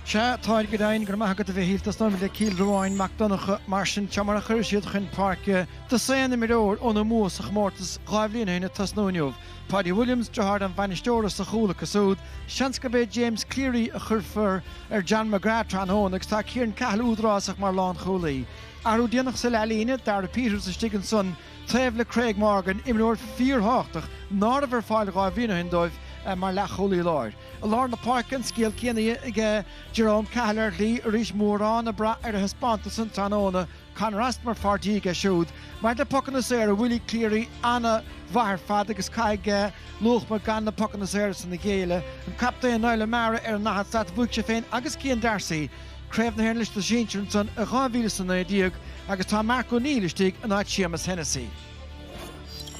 Sea, táir go deimhin, go raibh maith agat, a Mhichíl. Tosnóm le Cill Ruáin Mac Donncha mar sin, seo mar a chuir siad chun páirce dosaen imreoir óna mbua sa chomórtas dhá bhliain ó shin ag tosnú inniu. Páidí Williams, deartháir an bhainisteora, sa chúl acu súd. Seans gurb é James Cleary a chuirfear ar John McGrath tráthnóna agus tá Ciaran Cahill údarásach mar lánchúlaí. Athrú déanach sa leathlíne, Darragh Peters istigh ansan taobh le Craig Morgan, imreoir fíorthábhachtach ná raibh ar fáil dhá bhliain ó shin dóibh mar leathchúlaí láir. I lár na páirce an scéal céanna aige Jerome Cahill ar shlí arís mórán ag brath ar a thaispeántas san tráthnóna, Conor Austin mar pháirtí aige siúd. Maidir le pocanna saora Willie Cleary ana mhaith ar fad agus caithfidh Luachma gan na pocanna saora san a ghéilleadh. An captaen Niall O'Meara ar an ndaichead slat bhuaigh sé féin agus Cian Darcy Craobh na hÉireann leis na sinsir ansan i dhá mhíle is a naoi déag agus tá Mark O'Neill istigh in áit Séamus Hennessy.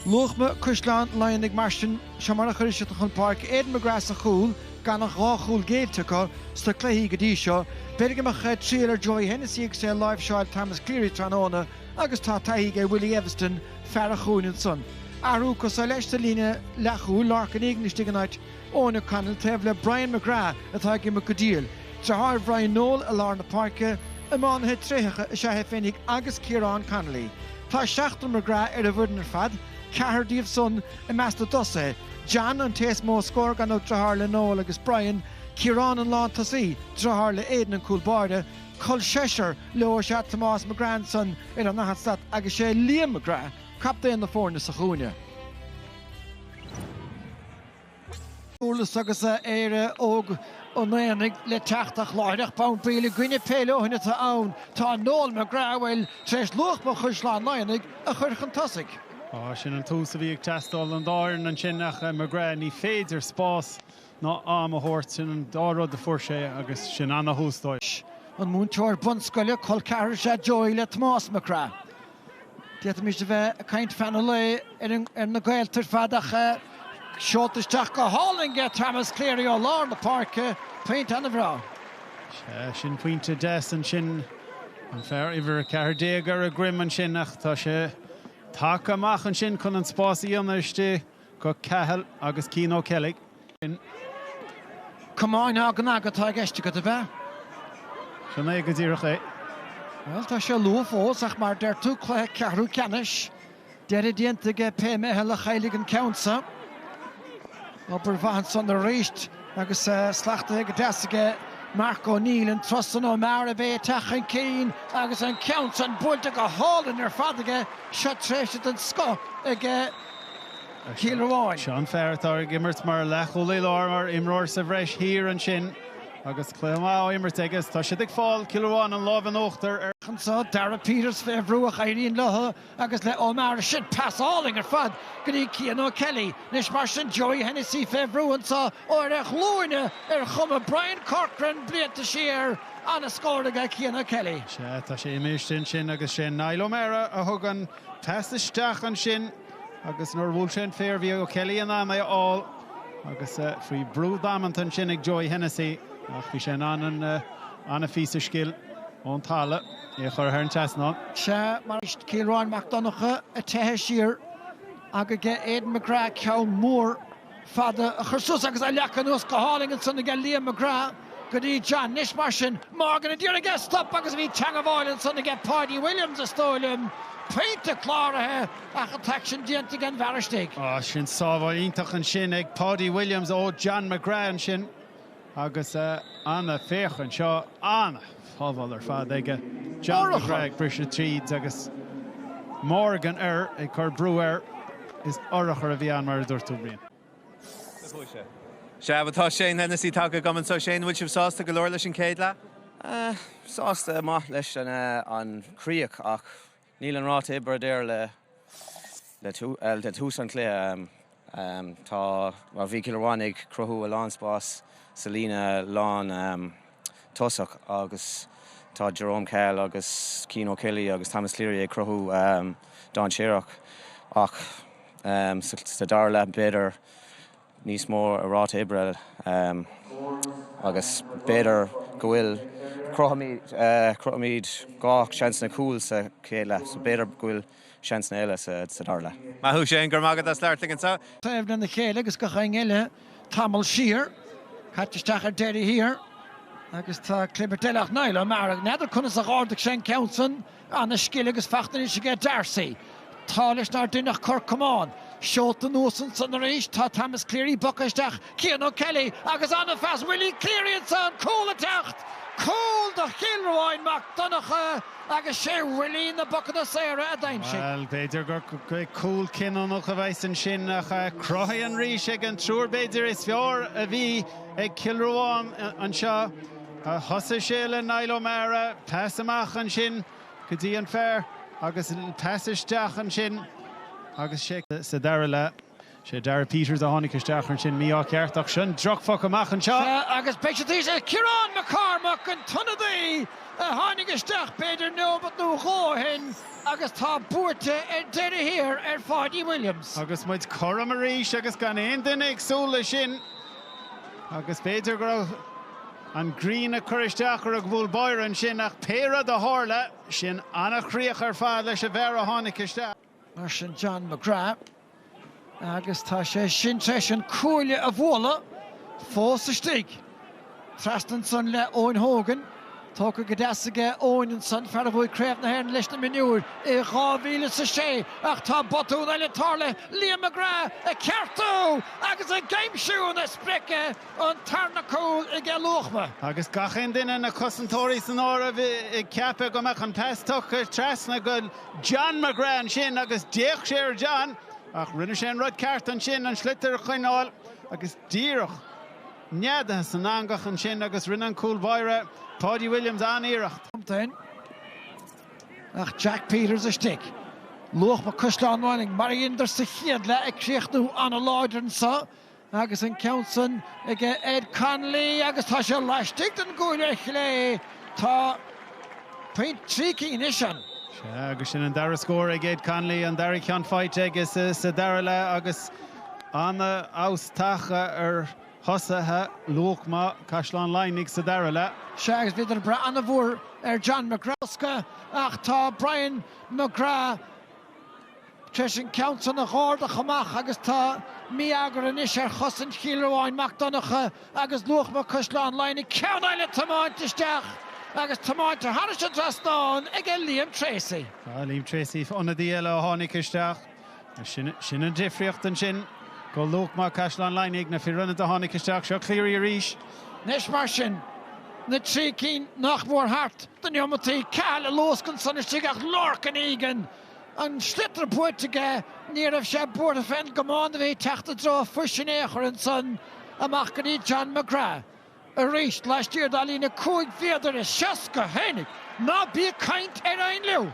Luachma Caisleán Laighnigh mar sin, seo mar a chuir siad chun páirce Aidan McGrath sa chúl, gan ach dhá chúl géillte acu sna cluichí go dtí seo. B'fhéidir go mbeadh triail ar Joey Hennessy agus é ag láimhseáil Thomas Cleary tráthnóna agus tá taithí aige Willie Eviston, fear an chúinne ansan. Athrú acu so leis sa líne leathchúil, Lorcan Egan istigh in áit Eoin O'Connell taobh le Brian McGrath atá ag imirt go diail. Deartháir Bhrian Noel i lár na páirce, iománaithe tréitheacha is ea é féinig agus Ciarán Connolly. Tá seachtar McGrath ar an bhfoireann ar fad, ceathrar díobh san i measc na dtosaithe, John an té is mó scór, gan dabht, deartháir le Noel agus Brian, Ciarán an lántosaí, deartháir le Aidan an cúl báire, col seisear leo is ea Tomás McGrath ansan ar an ndaichead slat agus sé Liam McGrath captaen na foirne sa chúinne. Durlas agus Éire Óg an Aonaigh le teacht ach láithreach bonn baill i gcoinne Peil ó shin atá ann. Tá Noel McGrath a bhfuil tar éis Luachma Caisleán Laighnigh a chur chun tosaigh. Sin an tús a bhí ag teastáil don dá fhoireann ansin ach McGrath ní féidir spás ná am a thabhairt. Sin an dá rud a fuair sé agus sin ana thús dóibh. An múinteoir bunscoile, col ceathrair is ea Joey le Tomás McGrath. D'fhéadfaimis a bheith ag caint fan an lae ar na gaolta ar fad ach seolta isteach go hálainn ag Thomas Cleary ó lár na páirce, pointe ana bhreá. Sea, sin pointe deas ansin, an fear uimhir 14 ar a dhroim ansin ach tá sé tagtha amach ansin chun an spás a dhéanamh istigh. Go Cahill agus Cian O'Kelly. Come on now, gnag atá i gceist agat, a bheith? Sin é go díreach é. Bhuel, tá sé luath fós, ach mar deir tú, cluiche ceathrú ceannais, deireadh déanta aige pé meitheal a chaillfidh an ceann so. Obair mhaith ansan arís, agus slactha go deas aige Mark O'Neill, an tros san ó mear a bheith ag teacht chun cinn, agus an ceann san buailte go hálainn ar fad aige, seo tréimhse den scoth aige. Seo an fear atá ag imirt mar leathchúlaí láir, mar imreoir sa bhreis thiar ansin agus cluiche maith á imirt aige is tá siad ag fáil, Cill Ruáin, an láimh in uachtar air. Seans ag Darragh Peters fé bhrú ach éiríonn leis agus le Ó Meara, sin pas álainn ar fad go dtí Cian O'Kelly. Anois mar sin, Joey Hennessy fé bhrú anso ó ar a ghlúine ar chuma Brian Corcoran blianta siar, an-scór aige Cian O'Kelly. Sea, tá sé imeasctha ansin agus sé Niall O'Meara a thugann. Teas isteach ansin agus nuair a bhuail sé an féar bhí O'Kelly in ann é a fháil agus faoi bhrú damanta ansin ag Joey Hennessy ach bhí sé in ann an-phíosa scil ón talamh é a chur thar an trasnán. Sea, mar is Cill Ruáin Mac Donnacha ag teitheadh siar ach aige Aidan McGrath ceann mór. fada a chur suas agus a leagadh anuas go hálainn ansan aige Liam McGrath go dtí John. Anois mar sin. Morgan a d'iarr é a stop agus bhí teangabháil ansan aige Paudie Williams is dóigh liom. Pointe cláraithe ach an t-aicsean déanta aige an bhfear istigh. Ó sin sábháil iontach ansin ag Paudie Williams ó John McGrath ansin. Agus ana féach anseo, ana shábháil ar fad aige John McGrath ag briseadh tríd agus Morgan ag cur brú air. Is urchar a bhí ann mar a dúirt tú, Brian. Sea, tá Shane Hennessey tagtha agam anseo. Shane, an bhfuil sibh sásta go leor leis an céad leath? Sásta go maith leis an chríoch ach Níl an ráta oibre ard go leor i dtús an chluiche. Tá mar bhí Cill Ruáin ag cruthú a lán spás sa líne lán tosach agus tá Jerome Cahill agus Cian O'Kelly agus Thomas Cleary ag cruthú dainséarach ach sa dara leath b'fhéidir níos mó ráta oibre agus b'fhéidir go bhfuil, cruthaímid dhá seansanna cúil sa chéad leath so b'fhéidir go bhfuil seansanna eile sa dara leath. Maith thú Shane, go raibh maith agat as labhairt linn anseo. taobh lena chéile agus gach éinne eile tamall siar. Caite isteach ar deireadh thiar agus tá clibirt eile ach Niall Ó Meara. N'fheadar conas a dh'ardaigh sé an ceann san. Ana scil agus faic tar éis aige Darcy. Tá leis nár deineadh cor camáin. Seolta anuas ansan arís tá Thomas Cleary bogtha isteach, Cian O'Kelly agus ana-phas Willie Cleary ansan, cúl ag teacht! Cúl do Chill Ruáin Mac Donnacha agus sé Willie na pocanna saora a d'aimsigh. Bhuel, b'fhéidir gur cúl cinniúnach a bheidh ansin ach cruthaithe arís ag an triúr b'fhéidir is fearr a bhí ag Cill Ruáin anseo. Thosaigh sé le Niall O'Meara, pas amach ansin go dtí an fear agus pas isteach ansin agus sé sa dara leath. Sé Darragh Peters a tháinig isteach ansin mí-ádh ceart ach sin drochphoc amach anseo. Sea agus beidh siad thíos le Ciarán McCormack, an t-ionadaí a tháinig isteach b'fhéidir neomat nó dhó ó shin agus tá buaite ar deireadh thiar ar Pháidí Williams. Agus muid cothrom arís agus gan aon duine ag súil leis sin. Agus b'fhéidir go raibh an ghrian ag cur isteach ar an gcúl báire ansin, ach pé rud a tharla, sin an-chríoch ar fad leis an bhfear a tháinig isteach. Mar sin John McGrath, agus tá sé sin tar éis an cuaille a bhualadh, fós istigh. Trasna ansan le Eoin Hogan. Tógtha go deas aige Eoin ansan, fear a bhuaigh Craobh na hÉireann leis na mionúir i dhá mhíle is a sé, ach tá botún eile tarlaithe, Liam McGrath ag ceartú agus ag aimsiú na sprice, an tarna cúl aige Luachma. Agus gach aon duine, na cosantóirí san áireamh, ag ceapadh go mbeadh an pas tugtha trasna go John McGrath ansin agus d'fhéach sé ar John ach rinne sé an rud ceart ansin, an sliotar a choinneáil agus díreach. neadaithe san eangach ansin agus rinne an cúl báire, Páidí Williams, an-iarracht. Cinnte ach Jack Peters istigh. Luachma Caisleán Laighnigh mar a dheineadar sa chéad leath ag críochnú an-láidir anseo agus an ceann san ag Ed Connolly agus tá sé laistigh den gcuaille ar chlé. Tá pointe trí cinn anois ann. Sea, agus sin an dara scór ag Ed Connolly, an dara cheann faighte aige sa dara leath agus an-fheabhas tagtha ar thosaithe Luachma, Caisleán Laighnigh, sa dara leath. Sea, agus bhíodar ag brath an-mhór ar John McGrath. Éasca, ach tá Brian McGrath tar éis an ceann san a chuardach amach agus tá mí-eagar anois ar chosaint Chill Ruáin Mac Donncha agus Luachma Caisleán Laighnigh ceann eile tiomáinte isteach agus tiomáinte thairis an dtrasnán aige Liam Treacy. Sea Liam Treacy, ionadaí eile a tháinig isteach. Sin an difríocht ansin go Luachma Caisleán Laighnigh ag na fir ionaid a tháinig isteach. Seo Cleary arís. Anois mar sin, na trí cinn nach mór thart de neomataí, Cahill a luascann san istigh ach Lorcan Egan an sliotar buaite aige, ní raibh sé buartha fén gcamán a bhí ag teacht i dtreo a phuis in aon chor ansan amach go dtí John McGrath arís laistiar dá líne cúig mhéadar is seasca! Tháinig! Ná bí ag caint ar ainliú!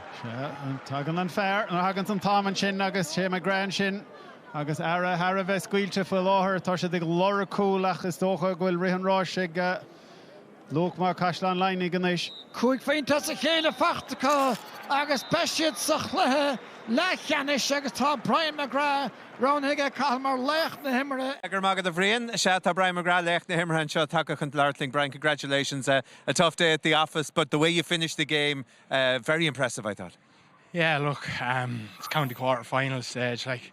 Tagann an fear, nuair a thagann an t-am ansin agus sé McGrath ansin agus é thar a bheith scaoilte faoi láthair. Tá siad ag lorg cúl ach is dócha go bhfuil rith an ráis ag. Luachma Caisleán Laoighne anois. Cúig phointe as a chéile faighte acu agus beidh siad sa chluiche leathcheannais agus tá Brian McGrath roghnaithe ag Cathal mar laoch na himeartha. Freagra maith do Bhrian. Is ea, tá Brian McGrath, laoch na himeartha anseo, tagtha chun labhairt linn. Brian, congratulations. A tough day at the office but the way you finished the game, very impressive, I thought. Yeah, look, it's county quarterfinals stage, like,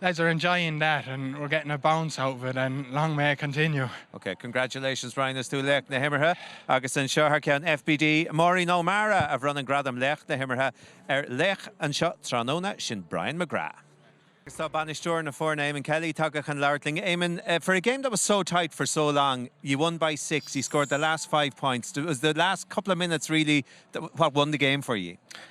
lads are enjoying that and we're getting a bounce out of it and long may it continue. OK, congratulations Ryan, is tú laoch na himeartha. Agus anseo thar ceann FBD, Máirín Ó Meara a bhronann gradam laoch na himeartha ar laoch anseo tráthnóna, sin Brian McGrath. Agus tá bainisteoir na foirne, Eamonn Kelly, tagtha chun labhairt linn. Eamonn, for a game that was so tight for so long, you won by six, you scored the last five points, it was the last couple of minutes really what won the game for you.